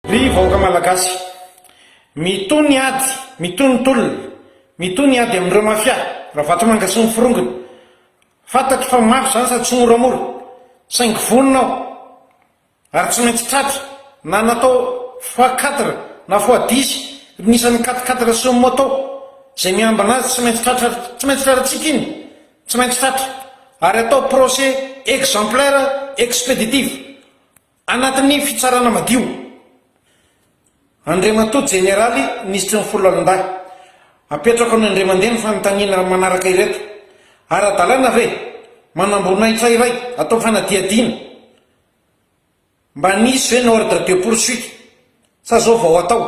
Ry vahoaka Malagasy! Mitohy ny ady, mitohy ny tolona, mitohy ny ady amin'ireo mafia, Ravatomanga sy ny forongony. Fantatro fa mafy izany sady tsy moramora, saingy vonona aho, ary tsy maintsy tratra, na natao fois quatre na fois dix ny isan'ny quatre quatre sy ny moto izay miambina azy, tsy maintsy tratra, tsy maintsy tratratsika iny, tsy maintsy tratra, ary atao procès exemplaire expéditif. Anatin'ny fitsarana madio, Andriamatoa Jeneraly Minisitry ny Foloalindahy, apetrako amin'Andriamandeha ny fanontaniana manaraka ireto, Ara-dalàna ve manamboninahitra iray atao fanadihadiana? Mba nisy ve ny ordre de poursuite sa zao vao atao?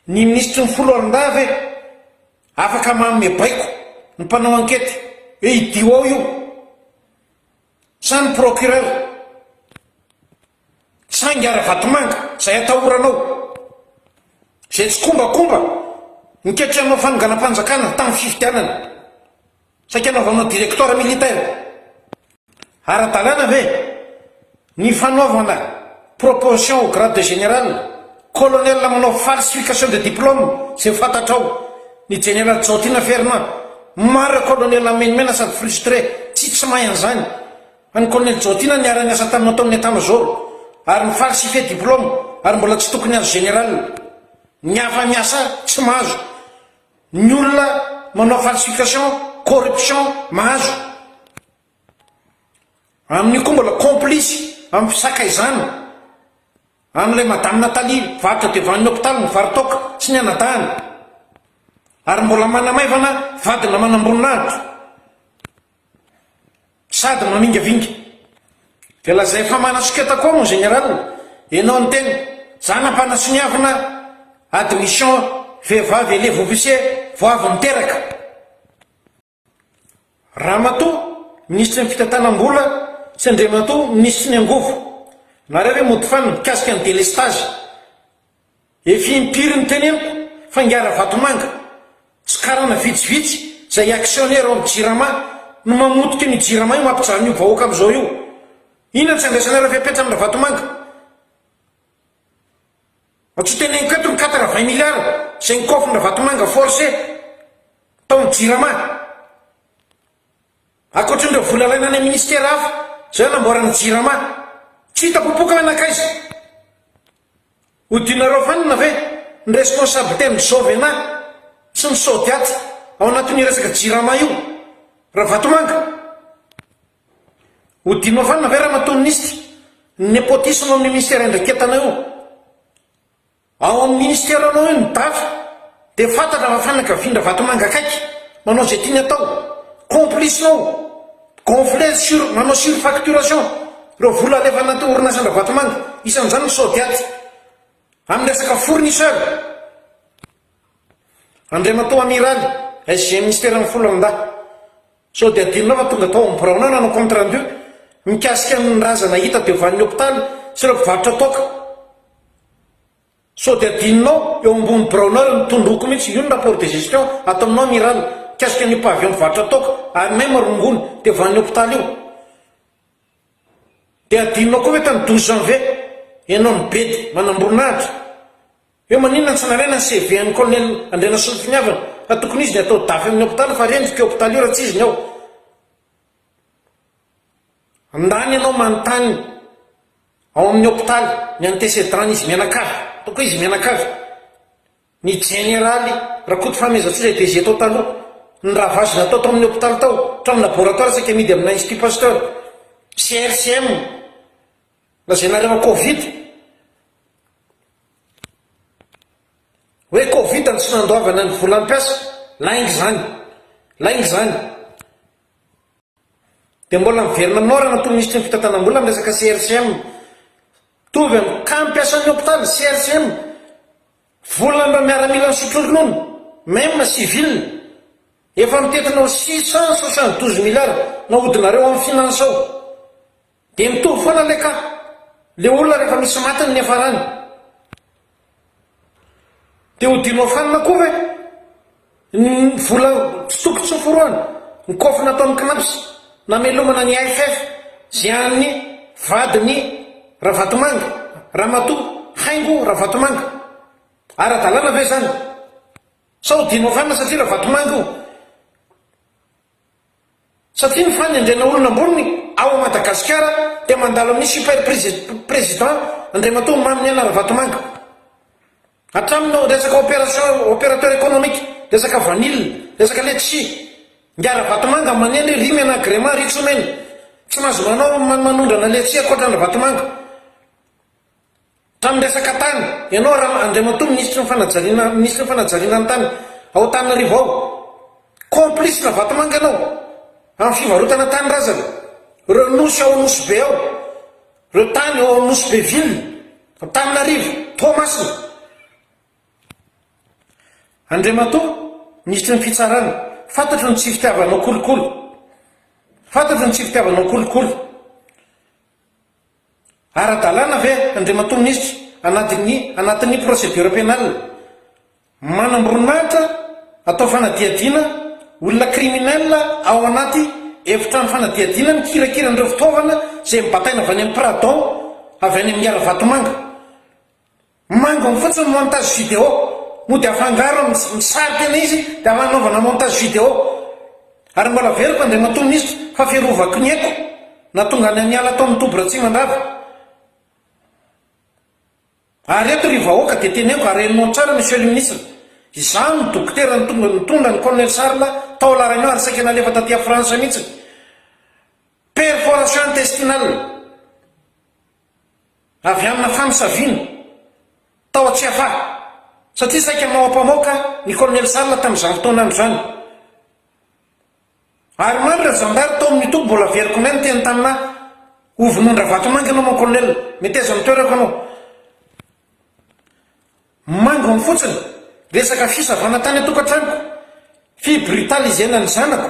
Ny Minisitry ny Foloalindahy ve afaka manome baiko ny mpanao ankety hoe idio ao io? Sa ny procureur? Sa ingahy Ravatomanga izay atahoranao? Izay tsikombakomba nikaikitra hanao fanonganam-panjakana tamin'ny fifidianana? Saika hanaovanao directoire militaire? Ara-dalàna ve ny fanaovana Proposition au grade de général, colonel manao falsification de diplôme zay fantatrao, ny general Jaotina Fernand, marre colonel amenomenana sady frustré, tsy tsy mahay an'izany, an'i colonel Jaotina niara niasa taminao tao amin'ny état major ary mi falsifier diplôme ary mbola tsy tokony azo general, ny hafa miasa tsy mahazo, ny olona manao falsification, corruption mahazo. Amin'io koa mbola complice amin'ny fisakaizana an'ilay Madame Nathalie varotra dia vaniny hopitaly ny varotoaka sy ny anadahiny ary mbola manamaivana vadina manamboninahitra sady mamingavinga. Dia lazay fa manasoketa koa mon général enao ny tena zana mpanasoniavina admission vehivavy elevo officier vao avy niteraka. Ramatoa minisitry ny fitantanam-bola sy Andriamatoa minisitry ny angovo. Nareo ve mody fana mikasika ny delestage? Efa impiry no teneniko fa ingahy Ravatomanga sy karana vitsivitsy izay actionnaire ao amin'ny jirama no mamotika an'io jirama io mampijaly an'io vahoaka amin'izao io. Inona no tsy andraisanareo fepetra amin'i Ravatomanga? Tsy teneniko eto ny quatre vingt milliards izay nokôfrina vatomanga forcé tao amin'ny jirama. Ankoatrin'ireo vola alaina any amin'ny ministera hafa izay hanamboarana ny jirama. Tsy hita popoka hoe nankaiza? Hodianareo fanina ve ny responsabilité ny Jovena sy ny Sodiat ao anatin'io resaka jirama io? Ravatomanga? Ho dinofanina ve ramatoa minisitra ny nepotisme amin'ny minisitera iandraiketanao io? Ao amin'ny minisiteranao io ny daty dia fantatra fa fianakavian-dRavatomanga akaiky, manao izay tiany atao, complice-nao, gonfler sur, manao surfacturation ireo vola alefa anaty orinasan-dRavatomanga, isan'izany ny Sodiat, amin'ny resaka fournisseur. Andriamatoa Amiraly, SG minisiteran'ny Foloalindahy. Sao dia adinonao fa tonga tao amin'ny birao anao nanao compte rendu mikasika ny razana hita teo vanin'ny hopitaly sy ireo mpivarotra toaka? Sao dia adinonao eo ambony biraonao ireo nitondroko mihitsy io ny rapport de gestion ato aminao amiral mikasika an'io pavillon mpivarotra toaka ary même rongony teo vanin'ny hopitaly io? Dia adinonao koa ve tany douze janvier ianao nibedy manamboninahitra? Eo maninona tsy nalaina ny CV an'i Colonel Andrianasolompiniavana fa tokony izy ny atao dafy amin'ny hopitaly fa rendrika io hopitaly io raha tsy izy ny ao Ndany ianao manontany ao amin'ny hopitaly ny antecedent n'izy mianakavy toko izy mianakavy ny jeneraly Rakotofahamezantsoa izay DG tao taloha ny ravage natao tao amin'ny hopitaly tao hatramin'ny laboratoire saika amidy amina institut Pasteur sy RCM Lazainareo an covid Hoe covid no tsy nandoavana ny volam piasa, lainga izany, lainga izany. Dia mbola miverina aminao raha natoa minisitry ny fitantanam-bola ny resaka CRCM. Mitovy am kam piasan'ny hopitaly, CRCM, volan'ireo miaramila nisotro ronono, même civil. Efa mitentina ho six cent soixante douze milliards nahodinareo am finance ao. Dia mitovy foana le ka. Le olona rehefa misy maty ny niafarany dia ho dinoafanina koa ve? Ny vola tsy toko tsy noforohana, ny kôfy nataon'ny cnaps namelomana ny AFF zay an'ny vadin'i Ravatomanga, Ramatoa Haingo Ravatomanga. Ara-dalàna ve zany? Sa ho dinoafanina satria Ravatomanga io? Satria ny fanendrena olona ambony ao Madagasikara dia mandalo amin'ny super president Andriamatoa Maminiaina Ravatomanga. Hatramin'ny ao resaka opération, opérateur économique, resaka vanille, resaka letchis. Ingahy Ravatomanga manendry ry omena agrément ry tsy omena. Tsy mahazo manao manondrana letchis ankoatran'i Ravatomanga. Tamin'ny resaka tany, ianao Ram Andriamatoa Minisitry ny Fanajariana Minisitry ny Fanajariana ny Tany ao Antananarivo ao, complice na vatomanga ianao amin'ny fivarotana tany razana, ireo nosy ao Nosy Be ao, ireo tany ao Nosy Be Ville, Antananarivo, Toamasina. Andriamatoa Minisitry ny Fitsarana, fantatro ny tsy fitiavanao kolikoly, fantatro ny tsy fitiavanao kolikoly, Ara-dalàna ve, Andriamatoa Minisitra, anadin'ny anatin'ny procédure pénale, manamboninahitra atao fanadihadiana olona criminel ao anaty efitrano fanadihadiana mikirakira an'ireo fitaovana izay nobataina avy any amin'ny Pradon avy any amin'ny Iaravatomanga? Mangony fotsiny montage vidéo no dia afangaro amin'ny misarika ilay izy dia hanaovana montage vidéo ary mbola averiko Andriamatoa Minisitra fa fiarovako ny aiko nahatonga anay niala tao amin'ny toby Ratsimandrava ary eto ry vahoaka dia teneniko ary henonao tsara Monsieur le Ministre izaho no dokotera nitonga nitondra ny Colonel Charles tao La Réunion ary saika nalefa taty a France mihitsy perforation intestinale avy amina famosaviana tao Tsiafahy satria saika maoampamaoka ny Colonel Sala tamin'izany fotoana izany. Ary maro ireo zandary tao amin'ny toby mbola veloko may niteny tamina ahy ho vonoan-dRavatomanga ianao mon Colonel, meteza ny toerako ianao. Mangony fotsiny resaka fisavana tany an-tokantranoko, fibrutalisena ny zanako.